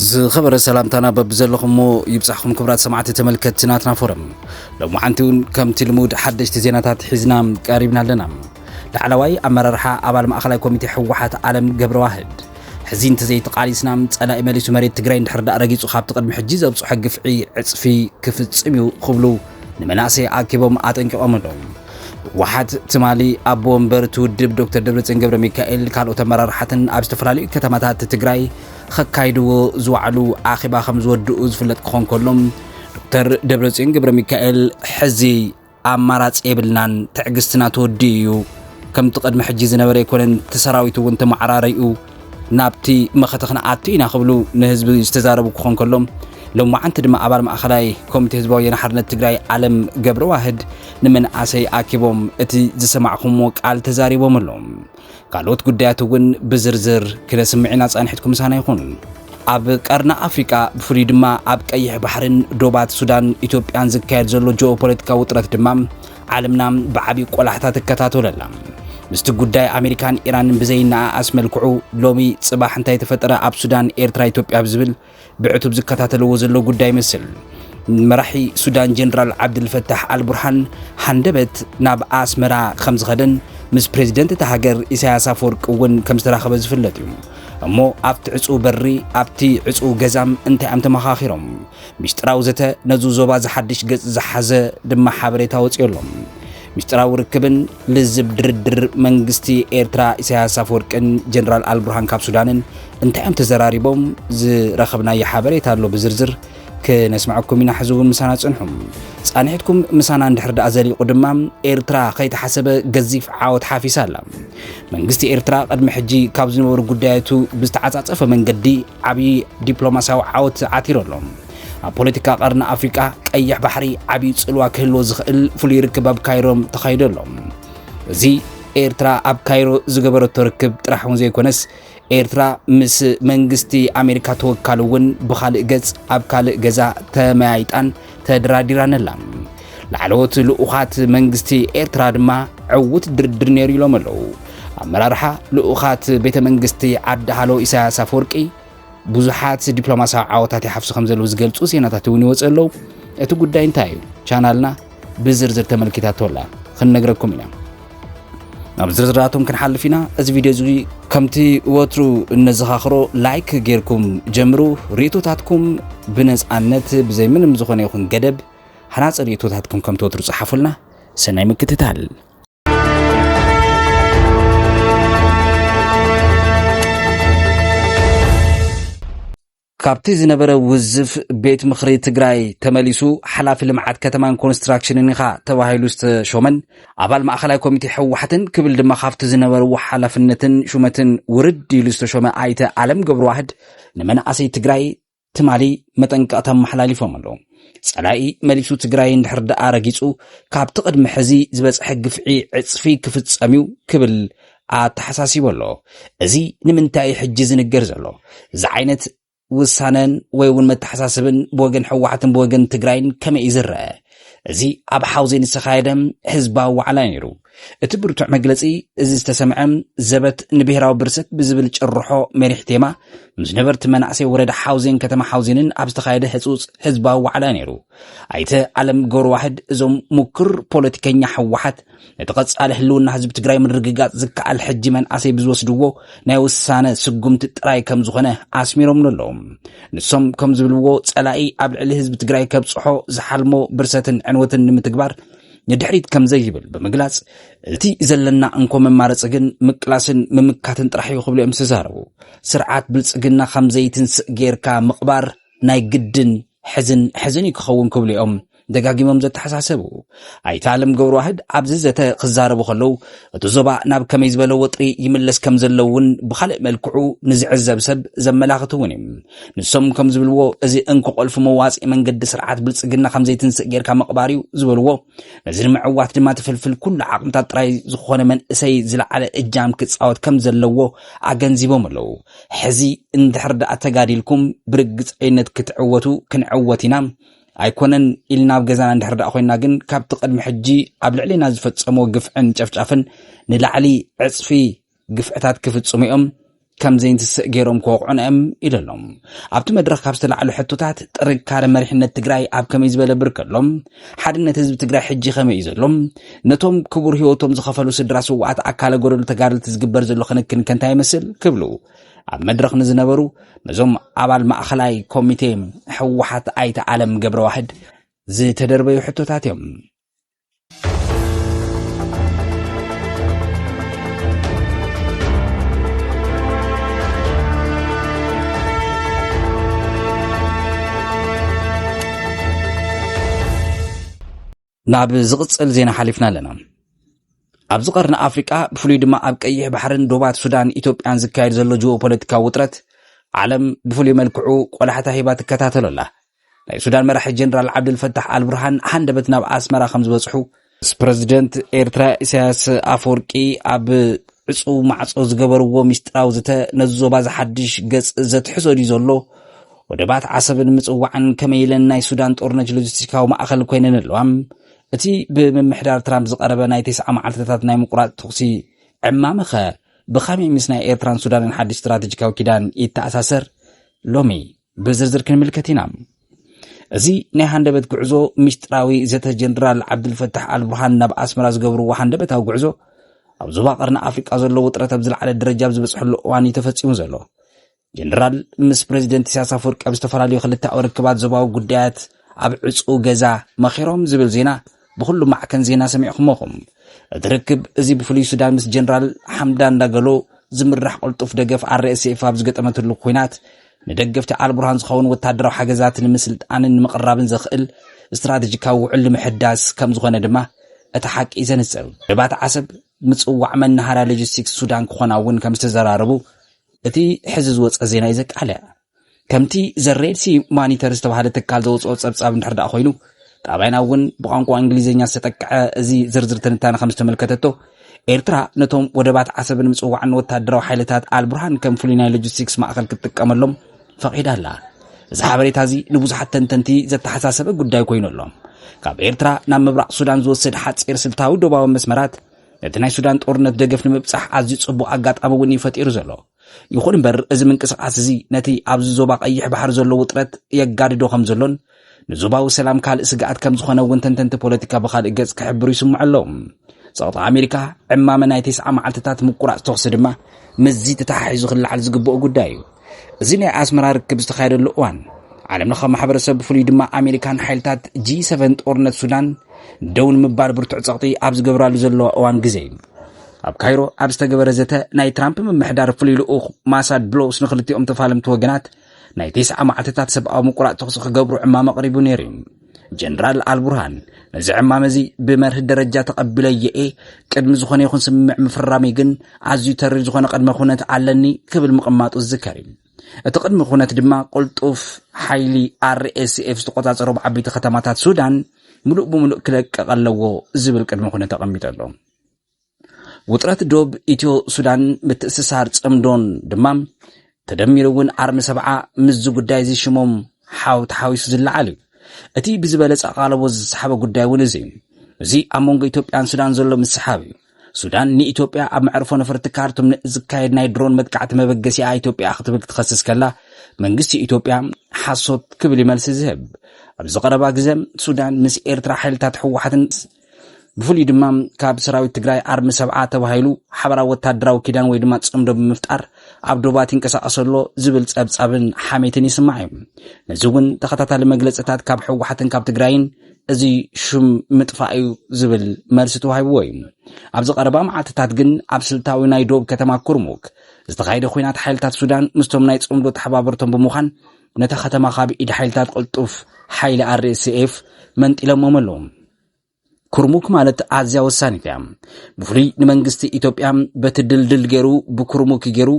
ዝኸበረ ሰላምታና በብዘለኹሞ ይብጻሕኹም ክብራት ሰማዕቲ ተመልከትቲ ናትና ፎረም ሎሚ ሓንቲ እውን ከምቲ ልሙድ ሓደሽቲ ዜናታት ሒዝና ቀሪብና ኣለና ላዕለዋይ ኣመራርሓ ኣባል ማእኸላይ ኮሚቴ ህወሓት ዓለም ገብረዋህድ ሕዚ እንተዘይተቓሊስና ጸላኢ መሊሱ መሬት ትግራይ እንድሕር ዳእ ረጊጹ ካብቲ ቅድሚ ሕጂ ዘብጽሖ ግፍዒ ዕጽፊ ክፍጽም እዩ ክብሉ ንመናእሰይ ኣኪቦም ኣጠንቂቖም ኣለዉ ህወሓት ትማሊ ኣቦ ወንበር እቲ ውድብ ዶክተር ደብረፅዮን ገብረ ሚካኤል ካልኦት ኣመራርሓትን ኣብ ዝተፈላለዩ ከተማታት ትግራይ ከካይድዎ ዝወዕሉ ኣኼባ ከም ዝወድኡ ዝፍለጥ ክኾን ከሎ ዶክተር ደብረፅዮን ገብረ ሚካኤል ሕዚ ኣማራፂ የብልናን ትዕግስትና ተወዲኡ እዩ ከምቲ ቅድሚ ሕጂ ዝነበረ ኣይኮነን እቲ ሰራዊት እውን ተመዓራሪኡ ናብቲ መኸተ ክንኣቱ ኢና ክብሉ ንህዝቢ ዝተዛረቡ ክኾን ከሎ ሎማዓንቲ ድማ ኣባል ማእኸላይ ኮሚቴ ህዝባዊ ወያነ ሓርነት ትግራይ ኣለም ገብረዋህድ ንመንእሰይ ኣኪቦም እቲ ዝሰማዕኹምዎ ቃል ተዛሪቦም ኣሎም። ካልኦት ጉዳያት እውን ብዝርዝር ክነስምዕ ኢና ፃንሒትኩም ምሳና ይኹን። ኣብ ቀርኒ ኣፍሪቃ ብፍሉይ ድማ ኣብ ቀይሕ ባሕርን ዶባት ሱዳን ኢትዮጵያን ዝካየድ ዘሎ ጂኦፖለቲካዊ ውጥረት ድማ ዓለምና ብዓቢ ቆላሕታ ትከታተሎ ኣላ። ምስቲ ጉዳይ ኣሜሪካን ኢራንን ብዘይነኣኣስ መልክዑ ሎሚ ጽባሕ እንታይ ተፈጠረ ኣብ ሱዳን፣ ኤርትራ፣ ኢትዮጵያ ብዝብል ብዕቱብ ዝከታተልዎ ዘሎ ጉዳይ ይመስል። መራሒ ሱዳን ጀነራል ዓብድልፈታሕ ኣልቡርሃን ሃንደበት ናብ ኣስመራ ከም ዝኸደን ምስ ፕሬዚደንት እታ ሃገር ኢሳያስ ኣፈወርቂ እውን ከም ዝተራኸበ ዝፍለጥ እዩ። እሞ ኣብቲ ዕፁው በሪ ኣብቲ ዕፁው ገዛም እንታይ እዮም ተመኻኺሮም? ሚስጥራዊ ዘተ ነዚ ዞባ ዝሓድሽ ገጽ ዝሓዘ ድማ ሓበሬታ ወጺኦ ኣሎ። ሚስጥራዊ ርክብን ልዝብ ድርድር መንግስቲ ኤርትራ ኢሳያስ ኣፈወርቅን ጀነራል ኣልቡርሃን ካብ ሱዳንን እንታይ እዮም ተዘራሪቦም ዝረኸብናዮ ሓበሬታ ኣሎ ብዝርዝር ክነስምዐኩም ኢና ሕዚ እውን ምሳና ጽንሑ ጻንሒትኩም ምሳና እንድሕር ደኣ ዘሊቑ ድማ ኤርትራ ከይተሓሰበ ገዚፍ ዓወት ሓፊሳ ኣላ መንግስቲ ኤርትራ ቅድሚ ሕጂ ካብ ዝነበሩ ጉዳያቱ ብዝተዓጻጸፈ መንገዲ ዓብዪ ዲፕሎማስያዊ ዓወት ዓቲሩ ኣሎ። ኣብ ፖለቲካ ቀርኒ ኣፍሪቃ ቀይሕ ባሕሪ ዓብዪ ጽልዋ ክህልዎ ዝኽእል ፍሉይ ርክብ ኣብ ካይሮ ተኻይዱ ኣሎ። እዚ ኤርትራ ኣብ ካይሮ ዝገበረቶ ርክብ ጥራሕ እውን ዘይኮነስ ኤርትራ ምስ መንግስቲ ኣሜሪካ ተወካሊ እውን ብኻልእ ገጽ ኣብ ካልእ ገዛ ተመያይጣን ተደራዲራነላ ላዕለዎት ልኡኻት መንግስቲ ኤርትራ ድማ ዕውት ድርድር ነይሩ ኢሎም ኣለዉ ኣመራርሓ ልኡኻት ቤተ መንግስቲ ዓዲ ሃሎ ኢሳያስ ኣፈወርቂ ብዙሓት ዲፕሎማስያዊ ዓወታት ይሓፍሱ ከም ዘለዉ ዝገልጹ ዜናታት እውን ይወፅ ኣለዉ እቲ ጉዳይ እንታይ እዩ ቻናልና ብዝርዝር ተመልኪታቶ ኣላ ክንነግረኩም ኢና ናብ ዝርዝራቶም ክንሓልፍ ኢና እዚ ቪድዮ እዚ ከምቲ ወትሩ እነዘኻኽሮ ላይክ ጌርኩም ጀምሩ ርእቶታትኩም ብነፃነት ብዘይ ምንም ዝኾነ ይኹን ገደብ ሃናፂ ርእቶታትኩም ከምቲ ወትሩ ፀሓፉልና ሰናይ ምክትታል ካብቲ ዝነበረ ውዝፍ ቤት ምኽሪ ትግራይ ተመሊሱ ሓላፊ ልምዓት ከተማን ኮንስትራክሽንን ኢኻ ተባሂሉ ዝተሾመን ኣባል ማእኸላይ ኮሚቴ ህወሓትን ክብል ድማ ካብቲ ዝነበርዎ ሓላፍነትን ሹመትን ውርድ ኢሉ ዝተሾመ ኣይተ ኣለም ገብረዋህድ ንመናእሰይ ትግራይ ትማሊ መጠንቀቕታ ኣመሓላሊፎም ኣለዉ። ጸላኢ መሊሱ ትግራይ እንድሕር ደኣ ረጊጹ ካብቲ ቅድሚ ሕዚ ዝበጽሐ ግፍዒ ዕጽፊ ክፍጸም እዩ ክብል ኣተሓሳሲቡ ኣሎ። እዚ ንምንታይ ሕጂ ዝንገር ዘሎ? እዚ ዓይነት ውሳነን ወይ እውን መተሓሳስብን ብወገን ሕወሓትን ብወገን ትግራይን ከመይ እዩ ዝረአ? እዚ ኣብ ሓውዜን ዝተኻየደ ህዝባዊ ዋዕላ እዩ ነይሩ። እቲ ብርቱዕ መግለጺ እዚ ዝተሰምዐ ዘበት ንብሔራዊ ብርሰት ብዝብል ጭርሖ መሪሕ ቴማ ምስ ነበርቲ መናእሰይ ወረዳ ሓውዜን ከተማ ሓውዜንን ኣብ ዝተኻየደ ህፁፅ ህዝባዊ ዋዕላ እዩ ነይሩ። ኣይተ ኣለም ገብረዋህድ እዞም ሙክር ፖለቲከኛ ህወሓት ነቲ ቀፃሊ ህልውና ህዝቢ ትግራይ ምርግጋፅ ዝከኣል ሕጂ መንኣሰይ ብዝወስድዎ ናይ ውሳነ ስጉምቲ ጥራይ ከም ዝኾነ ኣስሚሮም ኣለዉ ንሶም ከም ዝብልዎ ፀላኢ ኣብ ልዕሊ ህዝቢ ትግራይ ከብፅሖ ዝሓልሞ ብርሰትን ዕንወትን ንምትግባር ንድሕሪት ከም ዘይብል ብምግላጽ እቲ ዘለና እንኮ መማረፂ ግን ምቅላስን ምምካትን ጥራሕ እዩ ክብሉ እዮም ዝተዛረቡ ስርዓት ብልፅግና ከም ዘይትንስእ ጌርካ ምቕባር ናይ ግድን ሕዝን ሕዝን እዩ ክኸውን ክብሉ እዮም ደጋጊሞም ዘተሓሳሰቡ ኣይተ ኣለም ገብረዋህድ ኣብዚ ዘተ ክዛረቡ ከለው እቲ ዞባ ናብ ከመይ ዝበለ ወጥሪ ይምለስ ከም ዘለው እውን ብካልእ መልክዑ ንዝዕዘብ ሰብ ዘመላኽት እውን እዩ ንሶም ከም ዝብልዎ እዚ እንክቆልፉ መዋፅኢ መንገዲ ስርዓት ብልፅግና ከም ዘይትንስእ ጌርካ ምቕባር እዩ ዝበልዎ ነዚ ንምዕዋት ድማ ትፍልፍል ኩሉ ዓቕምታት ጥራይ ዝኾነ መንእሰይ ዝለዓለ እጃም ክፃወት ከም ዘለዎ ኣገንዚቦም ኣለው ሕዚ እንድሕር ደኣ ተጋዲልኩም ብርግፀይነት ክትዕወቱ ክንዕወት ኢና ኣይኮነን ኢልና ኣብ ገዛና እንድሕር ደኣ ኮይና ግን ካብቲ ቅድሚ ሕጂ ኣብ ልዕሊና ዝፈጸምዎ ግፍዕን ጨፍጫፍን ንላዕሊ ዕጽፊ ግፍዕታት ክፍጽሙ እዮም ከም ዘይንትስእ ገይሮም ክወቕዑና እዮም ኢሉ ኣሎ ኣብቲ መድረኽ ካብ ዝተላዕሉ ሕቶታት ጥንካረ መሪሕነት ትግራይ ኣብ ከመይ ዝበለ ብርክ ኣሎ ሓድነት ህዝቢ ትግራይ ሕጂ ከመይ እዩ ዘሎ? ነቶም ክቡር ህይወቶም ዝኸፈሉ ስድራ ስዋኣት ኣካለ ጎደሉ ተጋደልቲ ዝግበር ዘሎ ክንክን ከንታይ ይመስል? ክብሉ ኣብ መድረኽ ንዝነበሩ ነዞም ኣባል ማእኸላይ ኮሚቴ ህወሓት ኣይተ ኣለም ገብረዋህድ ዝተደርበዩ ሕቶታት እዮም። ናብ ዝቕጽል ዜና ሓሊፍና ኣለና። ኣብዚ ቀርኒ ኣፍሪቃ ብፍሉይ ድማ ኣብ ቀይሕ ባሕርን ዶባት ሱዳን ኢትዮጵያን ዝካየድ ዘሎ ጅኦ ፖለቲካዊ ውጥረት ዓለም ብፍሉይ መልክዑ ቆላሕታ ሂባ ትከታተሎ ኣላ። ናይ ሱዳን መራሒ ጀነራል ዓብዱልፈታሕ ኣልቡርሃን ሃንደበት ናብ ኣስመራ ከም ዝበጽሑ ምስ ፕረዚደንት ኤርትራ ኢሳያስ ኣፈወርቂ ኣብ ዕጹው ማዕጾ ዝገበርዎ ሚስጢራዊ ዝተ ነዚ ዞባ ዝሓድሽ ገጽ ዘትሕዞ ድዩ ዘሎ? ወደባት ዓሰብን ምጽዋዕን ከመይ ኢለን ናይ ሱዳን ጦርነት ሎጂስቲካዊ ማእኸል ኮይነን ኣለዋ? እቲ ብምምሕዳር ትራምፕ ዝቐረበ ናይ ቴስዓ መዓልትታት ናይ ምቁራጽ ተኹሲ ዕማመኸ ብኸመይ ምስ ናይ ኤርትራን ሱዳንን ሓድሽ ስትራተጂካዊ ኪዳን ይተኣሳሰር? ሎሚ ብዝርዝር ክንምልከት ኢና። እዚ ናይ ሃንደበት ጉዕዞ ምስጢራዊ ዘተ ጀነራል ዓብዱልፈታሕ ኣልቡርሃን ናብ ኣስመራ ዝገብርዎ ሃንደበታዊ ጉዕዞ ኣብ ዞባ ቀርኒ ኣፍሪቃ ዘሎ ውጥረት ኣብ ዝለዓለ ደረጃ ኣብ ዝበፅሐሉ እዋን እዩ ተፈፂሙ ዘሎ። ጀነራል ምስ ፕሬዚደንት ኢሳያስ ኣፈወርቂ ኣብ ዝተፈላለዩ ክልተኣዊ ርክባት ዞባዊ ጉዳያት ኣብ ዕፁው ገዛ መኺሮም ዝብል ዜና ብኹሉ ማዕከን ዜና ሰሚዕኹሞ ኹም። እቲ ርክብ እዚ ብፍሉይ ሱዳን ምስ ጀነራል ሓምዳን ዳገሎ ዝምራሕ ቅልጡፍ ደገፍ RSF ኣብ ዝገጠመትሉ ኩናት ንደገፍቲ ኣልቡርሃን ዝኸውን ወታደራዊ ሓገዛት ንምስልጣንን ንምቕራብን ዘኽእል ስትራቴጂካዊ ውዕል ንምሕዳስ ከም ዝኾነ ድማ እቲ ሓቂ ዘንጽር ደባት ዓሰብ ምጽዋዕ መናሃርያ ሎጂስቲክስ ሱዳን ክኾና እውን ከም ዝተዘራረቡ እቲ ሕዚ ዝወፀ ዜና እዩ ዘቃልዕ ከምቲ ዘ ሬድ ሲ ማኒተር ዝተባሃለ ትካል ዘውፅኦ ፀብፃብ እንድሕር ደኣ ኮይኑ ጣብያና እውን ብቋንቋ እንግሊዝኛ ዝተጠቅዐ እዚ ዝርዝር ትንታነ ከም ዝተመልከተቶ ኤርትራ ነቶም ወደባት ዓሰብን ምፅዋዕን ወታደራዊ ሓይልታት ኣልቡርሃን ከም ፍሉይ ናይ ሎጂስቲክስ ማእኸል ክትጥቀመሎም ፈቒዳ ኣላ እዚ ሓበሬታ እዚ ንብዙሓት ተንተንቲ ዘተሓሳሰበ ጉዳይ ኮይኑ ኣሎ ካብ ኤርትራ ናብ ምብራቕ ሱዳን ዝወስድ ሓፂር ስልታዊ ዶባዊ መስመራት ነቲ ናይ ሱዳን ጦርነት ደገፍ ንምብፃሕ ኣዝዩ ፅቡቕ ኣጋጣሚ እውን እዩ ፈጢሩ ዘሎ ይኹን እምበር እዚ ምንቅስቓስ እዚ ነቲ ኣብዚ ዞባ ቀይሕ ባሕሪ ዘሎ ውጥረት የጋድዶ ከም ዘሎን ንዞባዊ ሰላም ካልእ ስግኣት ከም ዝኾነ እውን ተንተንቲ ፖለቲካ ብካልእ ገጽ ክሕብሩ ይስምዑ ኣለዉ ጸቕጢ ኣሜሪካ ዕማመ ናይ ተስዓ መዓልትታት ምቁራጽ ተኽሲ ድማ ምስዚ ተተሓሒዙ ክለዓል ዝግብኦ ጉዳይ እዩ እዚ ናይ ኣስመራ ርክብ ዝተኻየደሉ እዋን ዓለም ለኸ ማሕበረሰብ ብፍሉይ ድማ ኣሜሪካን ሓይልታት ጂ7 ጦርነት ሱዳን ደው ንምባል ብርቱዕ ጸቕጢ ኣብ ዝገብራሉ ዘለዋ እዋን ግዜ እዩ ኣብ ካይሮ ኣብ ዝተገበረ ዘተ ናይ ትራምፕ ምምሕዳር ፍሉይ ልኡኽ ማሳድ ብሎስ ንክልቲኦም ተፋለምቲ ወገናት ናይ ቴስዓ መዓልትታት ሰብኣዊ ምቁራፅ ተኽሲ ክገብሩ ዕማም ኣቕሪቡ ነይሩ እዩ ጀነራል ኣልቡርሃን ነዚ ዕማም እዚ ብመርህ ደረጃ ተቐቢለዮ እየ ቅድሚ ዝኾነ ይኹን ስምምዕ ምፍራመይ ግን ኣዝዩ ተሪር ዝኾነ ቅድመ ኩነት ኣለኒ ክብል ምቕማጡ ዝዝከር እዩ እቲ ቅድሚ ኩነት ድማ ቅልጡፍ ሓይሊ RSF ዝተቆጻጸሮም ዓበይቲ ከተማታት ሱዳን ምሉእ ብምሉእ ክለቅቕ ኣለዎ ዝብል ቅድሚ ኩነት ተቐሚጡ ኣሎ። ውጥረት ዶብ ኢትዮ ሱዳን ምትእስሳር ጽምዶን ድማ ተደሚሩ እውን ዓርሚ ሰብዓ ምስዚ ጉዳይ እዚ ሽሞም ሓው ተሓዊሱ ዝለዓል እዩ እቲ ብዝበለጸ ኣቓልቦ ዝሰሓበ ጉዳይ እውን እዚ እዩ እዚ ኣብ መንጎ ኢትዮጵያን ሱዳን ዘሎ ምስሓብ እዩ ሱዳን ንኢትዮጵያ ኣብ መዕርፎ ነፈርቲ ካርቱም ንዝካየድ ናይ ድሮን መጥቃዕቲ መበገሲኣ ኢትዮጵያ ክትብል ክትኸስስ ከላ መንግስቲ ኢትዮጵያ ሓሶት ክብል ይመልሲ ዝህብ ኣብዚ ቀረባ ግዘ ሱዳን ምስ ኤርትራ ሓይልታት ህወሓትን ብፍሉይ ድማ ካብ ሰራዊት ትግራይ ኣርሚ ሰብዓ ተባሂሉ ሓበራዊ ወታደራዊ ኪዳን ወይ ድማ ፅምዶ ብምፍጣር ኣብ ዶባት ይንቀሳቐስ ኣሎ ዝብል ፀብፃብን ሓሜትን ይስማዕ እዩ ነዚ እውን ተኸታታሊ መግለፅታት ካብ ህወሓትን ካብ ትግራይን እዚ ሹም ምጥፋእ እዩ ዝብል መልሲ ተዋሂብዎ እዩ። ኣብዚ ቀረባ መዓልትታት ግን ኣብ ስልታዊ ናይ ዶብ ከተማ ኩርሙክ ዝተኻየደ ኩናት ሓይልታት ሱዳን ምስቶም ናይ ጽምዶ ተሓባበርቶም ብምዃን ነታ ከተማ ካብ ኢድ ሓይልታት ቅልጡፍ ሓይሊ ኣርኤስኤፍ መንጢሎሞም ኣለዉ። ኩርሙክ ማለት ኣዝያ ወሳኒት እያ። ብፍሉይ ንመንግስቲ ኢትዮጵያ በቲ ድልድል ገይሩ ብኩርሙክ ገይሩ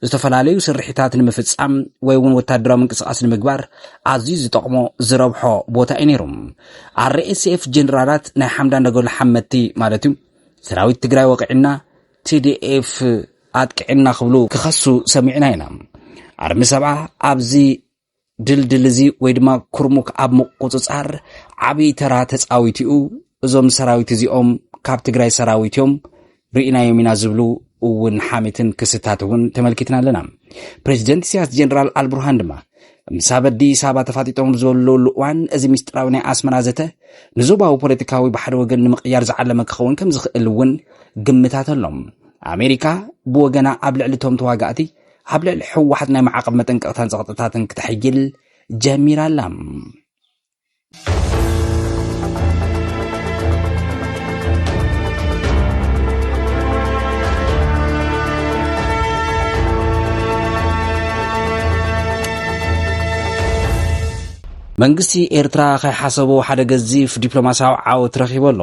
ዝተፈላለዩ ስርሒታት ንምፍጻም ወይ እውን ወታደራዊ ምንቅስቓስ ንምግባር ኣዝዩ ዝጠቕሞ ዝረብሖ ቦታ እዩ ነይሩ ኣርኤስኤፍ ጀነራላት ናይ ሓምዳን ደገሉ ሓመቲ ማለት እዩ ሰራዊት ትግራይ ወቂዕና ቲዲኤፍ ኣጥቅዕና ክብሉ ክኸሱ ሰሚዕና ኢና ኣርሚ ሰብዓ ኣብዚ ድልድል እዚ ወይ ድማ ኩርሙክ ኣብ ምቁፅፃር ዓብዪ ተራ ተፃዊቱ እዩ እዞም ሰራዊት እዚኦም ካብ ትግራይ ሰራዊት እዮም ርኢናዮም ኢና ዝብሉ እውን ሓሜትን ክስታት እውን ተመልኪትና ኣለና ፕሬዚደንት ኢሳያስ ጀነራል ኣልቡርሃን ድማ ምስ ኣብ ኣዲስ ኣበባ ተፋጢጦም ዘለውሉ እዋን እዚ ምስጢራዊ ናይ ኣስመራ ዘተ ንዞባዊ ፖለቲካዊ ብሓደ ወገን ንምቕያር ዝዓለመ ክኸውን ከም ዝኽእል እውን ግምታት ኣሎም ኣሜሪካ ብወገና ኣብ ልዕሊ እቶም ተዋጋእቲ ኣብ ልዕሊ ሕወሓት ናይ ማዕቐብ መጠንቀቕታን ፀቕጥታትን ክትሕይል ጀሚራ ኣላ መንግስቲ ኤርትራ ከይሓሰቦ ሓደ ገዚፍ ዲፕሎማስያዊ ዓወት ረኺቡ ኣሎ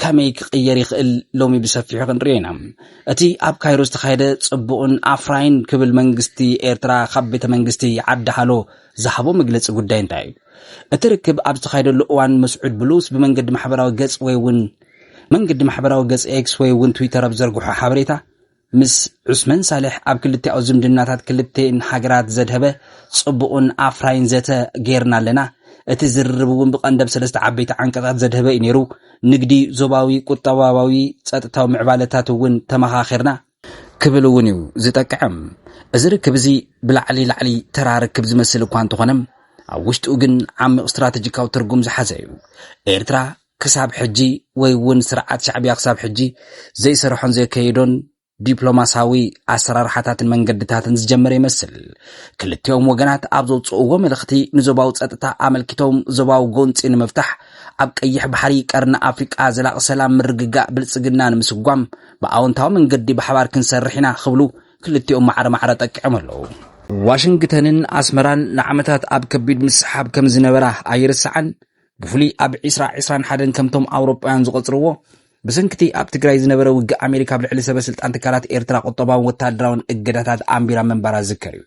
ከመይ ክቕየር ይኽእል ሎሚ ብሰፊሑ ክንሪኦ ኢና። እቲ ኣብ ካይሮ ዝተኻየደ ጽቡቕን ኣፍራይን ክብል መንግስቲ ኤርትራ ካብ ቤተ መንግስቲ ዓዲ ሃሎ ዝሃቦ መግለጺ ጉዳይ እንታይ እዩ? እቲ ርክብ ኣብ ዝተኻየደሉ እዋን መስዑድ ብሉስ ብመንገዲ ማሕበራዊ ገጽ ወይ እውን መንገዲ ማሕበራዊ ገጽ ኤክስ ወይ እውን ትዊተር ኣብ ዘርግሖ ሓበሬታ ምስ ዑስመን ሳልሕ ኣብ ክልቲኣዊ ዝምድናታት ክልቲኤን ሃገራት ዘድሀበ ጽቡቕን ኣፍራይን ዘተ ገይርና ኣለና። እቲ ዝርርብ እውን ብቀንደብ ሰለስተ ዓበይቲ ዓንቀጻት ዘድሀበ እዩ ነይሩ። ንግዲ፣ ዞባዊ ቁጠባባዊ ጸጥታዊ ምዕባለታት እውን ተመኻኺርና። ክብል እውን እዩ ዝጠቅዕም። እዚ ርክብ እዚ ብላዕሊ ላዕሊ ተራ ርክብ ዝመስል እኳ እንተኾነ ኣብ ውሽጡ ግን ዓሚቕ ስትራተጂካዊ ትርጉም ዝሓዘ እዩ። ኤርትራ ክሳብ ሕጂ ወይ ውን ስርዓት ሻዕብያ ክሳብ ሕጂ ዘይሰርሖን ዘየከየዶን ዲፕሎማሳዊ ኣሰራርሓታትን መንገድታትን ዝጀመረ ይመስል። ክልቲኦም ወገናት ኣብ ዘውፅእዎ መልእኽቲ ንዞባዊ ፀጥታ ኣመልኪቶም ዞባዊ ጎንፂ ንምፍታሕ ኣብ ቀይሕ ባሕሪ ቀርኒ ኣፍሪቃ ዘላቒ ሰላም ምርግጋእ ብልፅግና ንምስጓም ብኣወንታዊ መንገዲ ብሓባር ክንሰርሕ ኢና ክብሉ ክልቲኦም ማዕረ ማዕረ ጠቂዖም ኣለዉ። ዋሽንግተንን ኣስመራን ንዓመታት ኣብ ከቢድ ምስሓብ ከም ዝነበራ ኣይርሳዕን። ብፍሉይ ኣብ ዒስራ ዒስራን ሓደን ከምቶም ኣውሮጳውያን ዝቖጽርዎ ብሰንኪቲ ኣብ ትግራይ ዝነበረ ውግእ ኣሜሪካ ኣብ ልዕሊ ሰበ ስልጣን ትካላት ኤርትራ ቁጠባውን ወተሃደራውን እገዳታት ኣንቢራ ምንባራ ዝዝከር እዩ።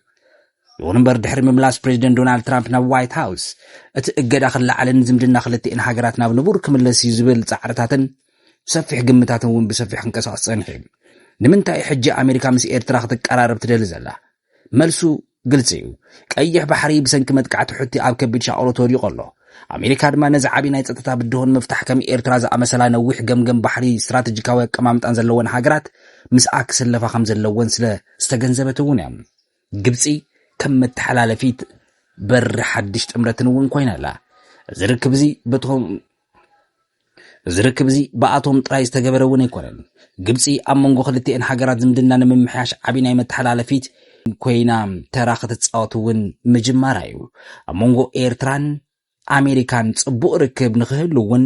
ይኹን እምበር ድሕሪ ምምላስ ፕሬዚደንት ዶናልድ ትራምፕ ናብ ዋይት ሃውስ እቲ እገዳ ክለዓልን ዝምድና ክልቲኤን ሃገራት ናብ ንቡር ክምለስ እዩ ዝብል ጻዕርታትን ሰፊሕ ግምታትን እውን ብሰፊሕ ክንቀሳቐስ ጸኒሑ እዩ። ንምንታይ ሕጂ ኣሜሪካ ምስ ኤርትራ ክትቀራረብ ትደሊ ዘላ? መልሱ ግልፂ እዩ። ቀይሕ ባሕሪ ብሰንኪ መጥቃዕቲ ሑቲ ኣብ ከቢድ ሻቕሎት ወዲቑ ኣሎ። ኣሜሪካ ድማ ነዚ ዓብዪ ናይ ጸጥታ ብድሆ ንምፍታሕ ከም ኤርትራ ዝኣመሰላ ነዊሕ ገምገም ባሕሪ ስትራተጂካዊ ኣቀማምጣን ዘለወን ሃገራት ምስኣ ክስለፋ ከም ዘለወን ስለ ዝተገንዘበት እውን እያ። ግብጺ ከም መተሓላለፊት በሪ ሓድሽ ጥምረትን እውን ኮይና ኣላ። እዚ ርክብ እዚ በቶም እዚ ርክብ እዚ ብኣቶም ጥራይ ዝተገበረ እውን ኣይኮነን። ግብጺ ኣብ መንጎ ክልቲኤን ሃገራት ዝምድና ንምምሕያሽ ዓቢ ናይ መተሓላለፊት ኮይና ተራ ክትጻወት እውን ምጅማራ እዩ። ኣብ መንጎ ኤርትራን ኣሜሪካን ጽቡቕ ርክብ ንክህሉ እውን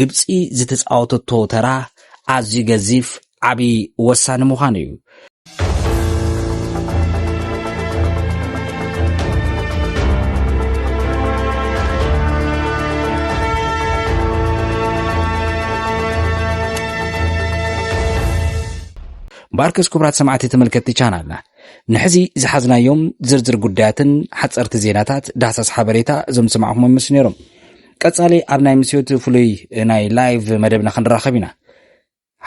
ግብጺ ዝተጻወተቶ ተራ ኣዝዩ ገዚፍ ዓብዪ ወሳኒ ምዃኑ እዩ። ባርከስ ክቡራት ሰማዕቲ ተመልከትቲ ቻናልና ንሕዚ ዝሓዝናዮም ዝርዝር ጉዳያትን ሓፀርቲ ዜናታት ዳህሳስ ሓበሬታ እዞም ዝሰማዕኹም ምስ ነይሮም ቀፃሊ ኣብ ናይ ምስዮት ፍሉይ ናይ ላይቭ መደብና ክንራኸብ ኢና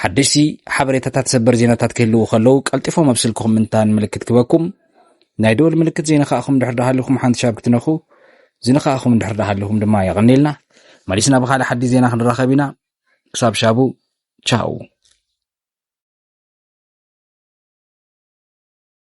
ሓደሽቲ ሓበሬታታት ሰበር ዜናታት ክህልዉ ከለዉ ቀልጢፎም ኣብ ስልክኹም ምንታን ምልክት ክበኩም ናይ ደወል ምልክት ዘይነኻእኹም ድሕር ዳሃልኹም ሓንቲ ሻብ ክትነኹ ዝነኻእኹም ድሕር ዳሃልኹም ድማ የቐኒልና መሊስና ብኻልእ ሓዲ ዜና ክንራኸብ ኢና ክሳብ ሻቡ ቻው